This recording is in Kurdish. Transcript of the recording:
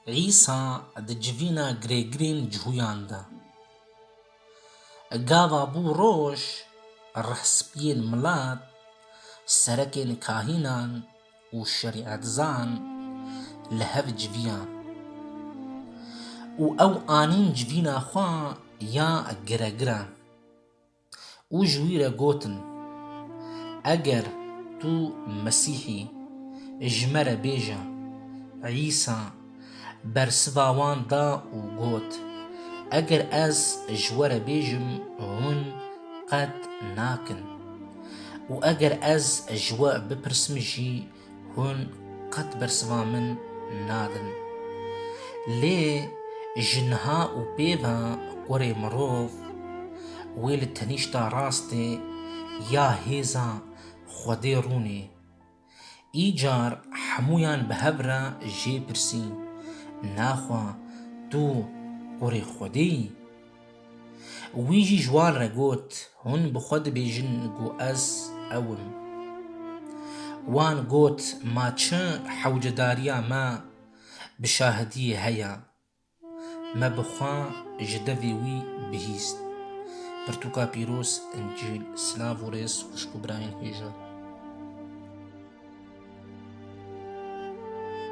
Îsa di civîna girêgirên cihûyan de, gava bû roj, rehspiyên milet, serekên kahînan û şerîetzan li hev civiyan û ew anîn civîna xwe ya giregiran. Û ji wî re gotin, Eger tu Mesîh î, ji me re bêje. Îsa bersiva wan da û got, Eger ez ji we re bêjim, hûn qet nakin. Û eger ez ji we bipirsim jî, Hûn qet bersiva min nadin. Lê ji niha û pêva kurê mirov wê li tenîşta rastê ya hêza Xwedê rûnê. Îcar hemûyan bi hev re jê pirsî, Naxwa tu kurê Xwedê yî? Wî jî ji wan re got, Hûn bi xwe dibêjin ku ez ew im. Wan got, Ma çi hewcedariya me bi şahidiyê heye? Me bi xwe ji devê wî bihîst. Pirtûka pîroz Încîl Silav û rêz xwişk û birayên hêja.